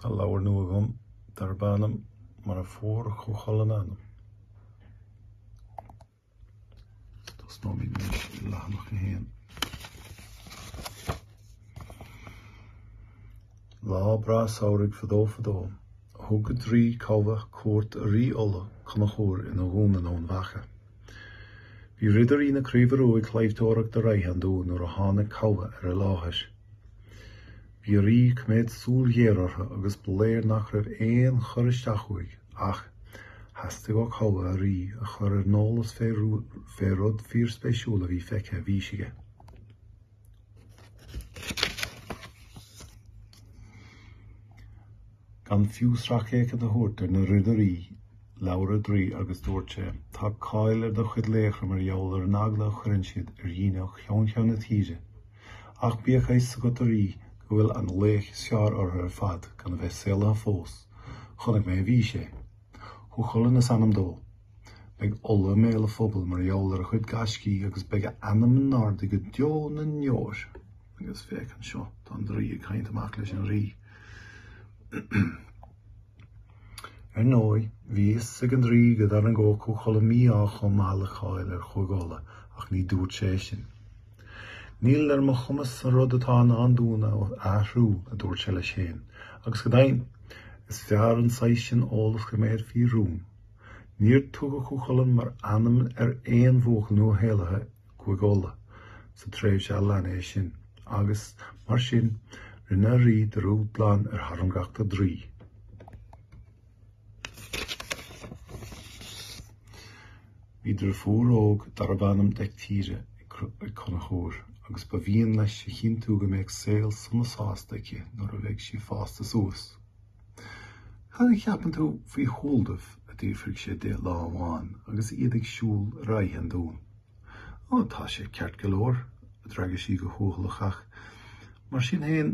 Tá leabhar nua agam darb ainm Mar a Fuair Cú Chulainn a Ainm. Tosnóimid anois i leathanach a haon. Lá breá samhraidh fadó fadó, thug an draoi Cobhthach cuairt ar Rí Uladh, Conchúr, ina dhún in Eamhain Mhacha. Bhí Ridirí na Craoibhe Ruaidh ag claimhteoireacht ar aghaidh an dúin nuair a tháinig Cobhthach ar an láthair. Bhí an rí ag coimeád súil ghéar ortha agus ba léir nach raibh aon chur isteach uaidh ach theastaigh ó Cobhthach an rí a chur ar an eolas fé rud fíorspéisiúil a bhí feicthe i bhfís aige. Gan fiú sracfhéachaint a thabhairt ar na Ridirí, labhair an draoi agus dúirt sé, Tá cáil ar do chuid laochra mar gheall ar an eagla a chuireann siad ar dhaoine ó cheann ceann na tíre. Ach bíodh a fhios agat, a rí, go bhfuil an laoch is fearr orthu ar fad gan a bheith saolaithe fós. Chonaic mé i bhfís é. Cú Chulainn is ainm dó. Beidh Uladh i mbéal an phobail mar gheall ar a chuid gaiscí agus beidh a ainm in airde go deo na ndeor. Agus féach anseo, tá an draoi ag caint amach leis an rí. Ar ndóigh, bhí fhios ag an draoi go dtarraingeodh Cú Chulainn mí-ádh chomh maith le cáil ar Chúige Uladh, ach ní dúirt sé é sin. Níl ar mo chumas an rud atá i ndán dúinn a athrú, a dúirt sé leis féin, agus go deimhin, is fearr an saghas sin eolas a choimeád faoi rún. Níor tugadh Cú Chulainn mar ainm ar aon bhuachaill nuashaolaithe Cúige Uladh sa tréimhse a lean é sin, agus mar sin, rinne an rí dearúd glan ar thairngreacht an draoi. Bhí driofúr óg darbh ainm Deictíre ag Conchúr, agus ba mhian leis a chinntiú go mbeadh saol sona sásta aici nuair a bheidh sí fásta suas. Cad a cheapann tú faoi Shualdamh? a d'fhiafraigh sé di lá amháin agus iad ag siúl ar aghaidh an dún. Ó, tá sé ceart go leor, a d'fhreagair sí go cúthaileach ach, mar sin fhéin,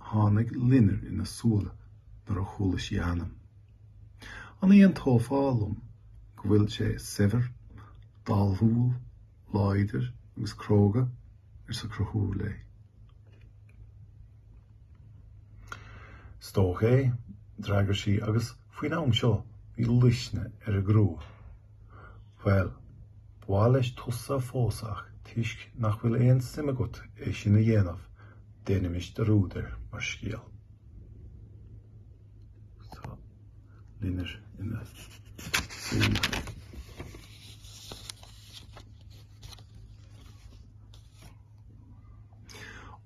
tháinig loinnir ina súile nuair a chuala sí a ainm. An aontófá liom go bhfuil sé saibhir, dathúil? Láidir agus cróga, arsa Conchúr léi. Is dócha é, d'fhreagair sí, agus faoin am seo bhí luisne ar a grua. Bhuel, ba mhaith leis tusa a phósadh ach toisc nach bhfuil aon suim agat é sin a dhéanamh, déanaimis dearúd air mar scéal. Loinnir ina súile.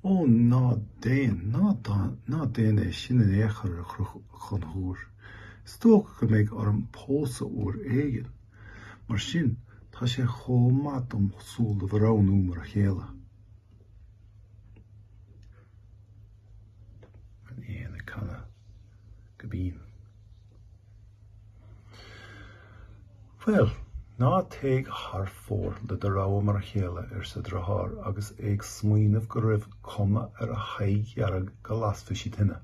Ó, ná déan, ná déan é sin in aon chor, a Chonchubhair. Is dócha go mbeidh orm pósadh uair éigin. Mar sin, tá sé chomh maith dom Sualdamh a roghnú mar a chéile. An éan ag canadh go binn. Bhuel, ná téigh thar fóir le do rogha mar a chéile, arsa a deartháir agus é ag smaoineamh go raibh cuma ar a haghaidh dhearg go lasfadh sí tine.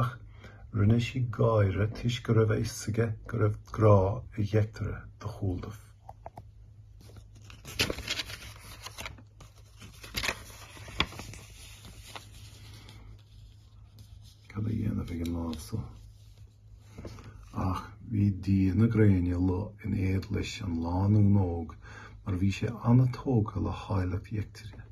Ach rinne sí gáire toisc go raibh a fhios aige go raibh grá ag Deictire do Shualdamh. Cad á dhéanamh ag an lámh so? Ach bhí dia na gréine Lugh in éad leis an lánúin óg mar bhí sé an-tógtha le háilleacht Dheictire.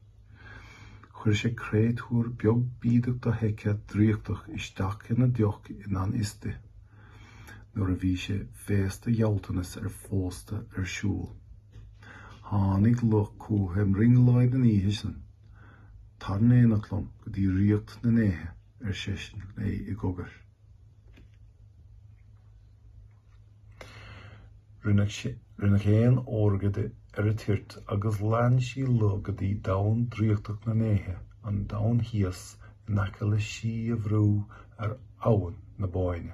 Chuir sé créatúr beag bídeach dofheicthe draíochtach isteach ina deoch i ngan fhios di. nuair a bhí sé féasta ghealltanas an phósta ar siúl. Tháinig Lugh chúithi i mbrionglóid an oíche san. Tar in éineacht liom go dtí ríocht na ndéithe, ar seisean léi i gcogar. Rinneadh éan órga di ar an toirt agus lean sí Lugh go dtí domhan draíochtach na ndéithe, an domhan thíos in aice le Sí an Bhrú ar Abhainn na Bóinne.